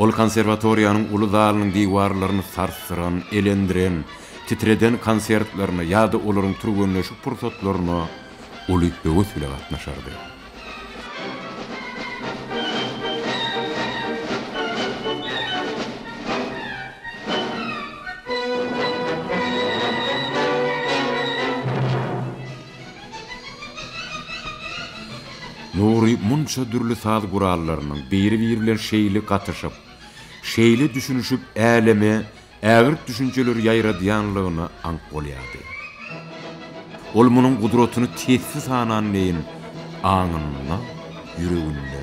Ol konserwatoriýanyň uly zalynyň diwarlaryny sarsdyran, elendiren, titreden konsertlerine ýa-da olaryň türgenleşik pursatlaryna uly höwes bile gatnaşardy. Nury munça dürli saz gurallarynyň biri-biri bilen şeýle gatyşyp, şeýle düşünişip äleme ägirt düşünjeleri ýaýradýanlygyna aňk bolýardy. Ol munuň gudratyny tesbi sanan deýin aňynda, ýüreginde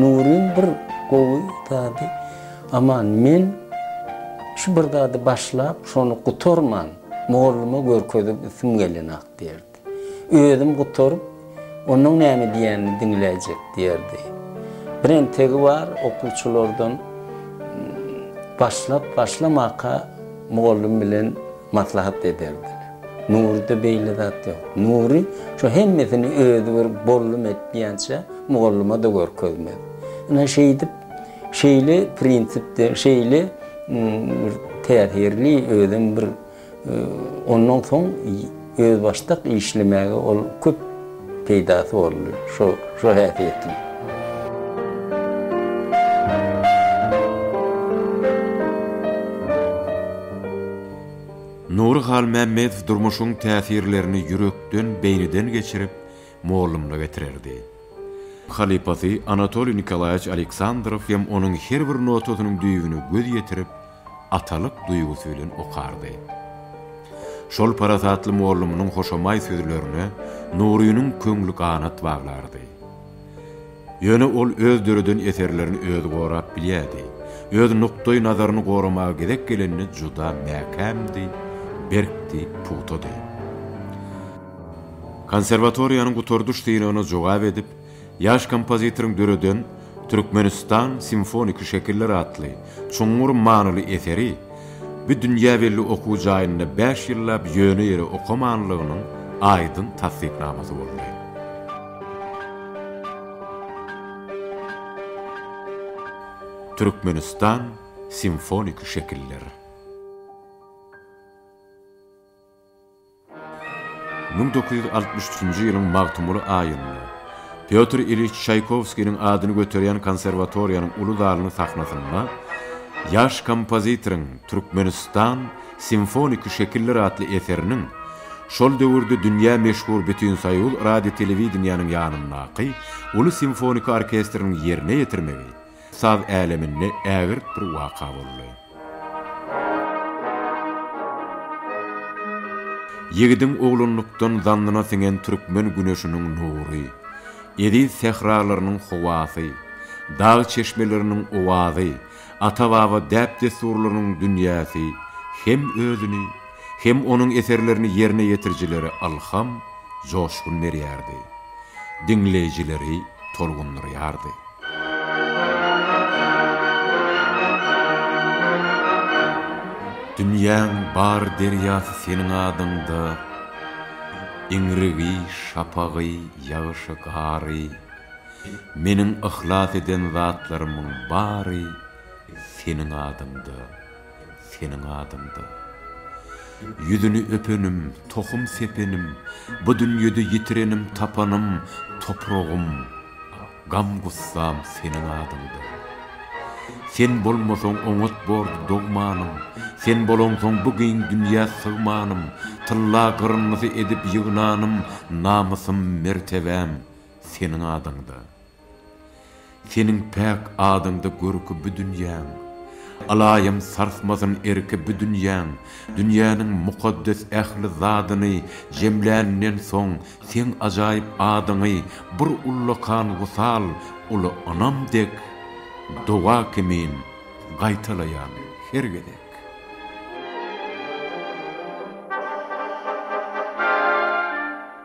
Nuryň bir gowy zady, Aman, men şu bir zady başlap, şony gutarman, molluma görkezip ýsim gelenok diýerdi. Özüm gutaryp, onuň näme diýenini diňläýjek diýerdi. Bir entegi bar, okuwçylardan başlap, başlamaka mollum bilen Maslahat ederdiler. Nuryda beýle zat ýok. Nury şu hemmesini özi bir bollum etmeýänçä mugallyma-da görkezmez. Ine şeýdip, şeýle prinsipde, şeýle bir täsirli özem bir ondan soň özbaşdak işlemäge ol köp peýdasy boldy şo şo häsiýetli. Nury Halmämmedow durmuşyň täsirlerini ýürekden, beýniden geçirip, mollumyza getirerdi. Halypasy Anatoliý Nikolaýewiç Aleksandrow hem onuň her bir notasynyň düýbüne göz ýetirip, atalyk duýgusy bilen okardy. Şol parasatly mollumynyň hoşamaý sözlerine Nurynyň köňli ganat baglardy. Ýöne ol öz döreden eserlerini özi gorap bilýärdi, öz nukdaý nazaryny goramaga gezek gelende juda mäkämdi, berkdi, pugtady. Konserwatoriýanyň gutardyş synagyna jogap edip, Ýaş kompozitoryň döreden Türkmenistan simfoniki şekiller atly çuňňur manyly eseri bu dünýä belli okuw jaýynda bäş ýyllap ýöne ýere okamanlygynyň aýdyň tassyknamasy boldy. Türkmenistan simfoniki şekiller. Müň dokuz ýüz altmyş üçünji ýylyň magtymguly aýynda Pýotr Iliç Çaýkowskiniň adyny göterýän konserwatoriýanyň uly zalynyň sahnasynda ýaş kompozitoryň Türkmenistan, simfoniki şekiller atly eseriniň şol döwürde dünýä meşhur Bütinsoýuz radiotelewidenýäniň ýanyndaky uly simfoniki orkestriniň ýerine ýetirmegi Saz äleminde ägirt bir waka boldy. Ýigidiň oglanlykdan zannyna siňen türkmen güneşiniň nury, eziz sähralarynyň howasy, dag çeşmeleriniň owazy, ata-baba däp-dessurlarynyň dünýäsi hem özüni, hem onuň eserlerini ýerine ýetirijileri ylham, joşgun berýärdi. diňleýjileri tolgundyrýardy. Dünýäň bar derýasy seniň adyňda, Iňrigi, şapagy, ýagyşy, gary, Meniň yhlas eden zatlarymyň bary Seniň adyňda. seniň adyňdan. Ýüzüni öpenim, tohum sepenim, Bu dünýede ýitirenim, tapanym, Topragym, gam-gussam seniň adyňdan. Sen bolmasaň oňat bordy dogmanym, Sen bolaňsoň bu giň dünýä sygmanym, Tylla gyryndysy edip ýygnanym, Namysym, mertebäm seniň adyňdan. Seniň päk adyňda görki bu dünýäň, Alaýym sarsmasyn erki bu dünýäň, Dünýäniň mukaddes ähli zadyny Jemländen soň seň ajaýyp adyňy, Bir ullakan wysal, uly ynam dek, Doga kimin gaýtalaýan her gezek.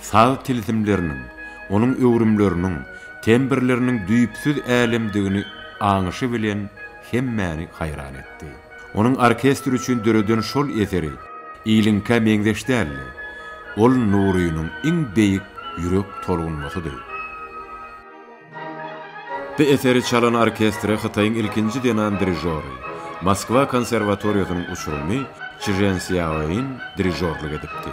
Saz tilsimleriniň, onuň öwrümleriniň, tembrleriniň düýpsüz älemdigini aňyşy bilen hemmäni haýran etdi. Onuň orkestr üçin döreden şol eseri iliňkä meňzeş däldi. Ol Nurynyň iň beýik ýürek tolgunmasydy. Bu eseri çalan orkestre Hytaýyň ilkinji zenan dirižory, Moskwa konserwatoriýasynyň uçurymy Çžen Sýaoin dirižorlyk edipdi.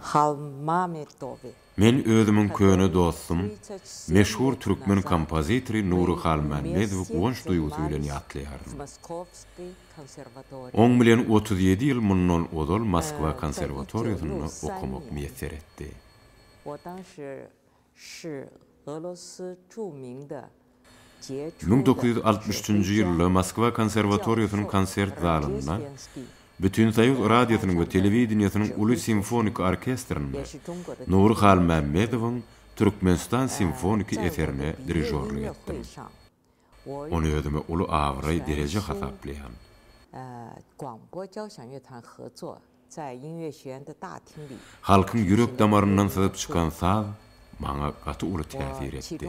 Halmametowy. Men özümiň köne dostum, meşhur türkmen kompozitory Nury Halmämmedowy guwanç duýgusy bilen ýatlaýaryn. Oň bilen otuz ýedi ýyl mundan ozal Moskwa konserwatoriýasynda okamak miýesser etdi. Ş. Golosy Çu Ming Da, Jie Çu Da, Müň dokuz ýüz altmyş üçünji ýylda Moskwa konserwatoriýasynyň konsert zalynda, Bütinsoýuz radiosynyň we telewideniýesiniň uly simfoniki orkestrinde Nury Halmämmedowyň Türkmenistan simfoniki eserine dirižorlyk etdim. Ony özüme uly abraý, dereje hasaplaýan. Halkyň ýürek damaryndan syzyp çykan saz maňa gaty uly täsir etdi.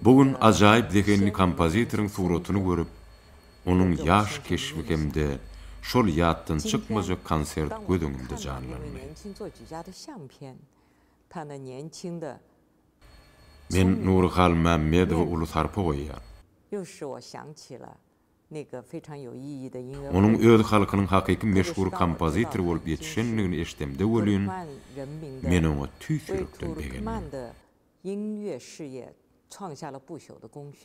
Bu gün ajaýyp zehinli kompozitoryň suratyny görüp, onuň ýaş keşbi hem-de şol ýatdan çykmajak konsert göz öňümde janlandy. Men Nury Halmämmedowa uly sarpa goýýan. Onuň öz halkynyň hakyky meşhur kompozitory bolup ýetişendigini eşdemde welin, men oňa tüýs ýürekden begendim.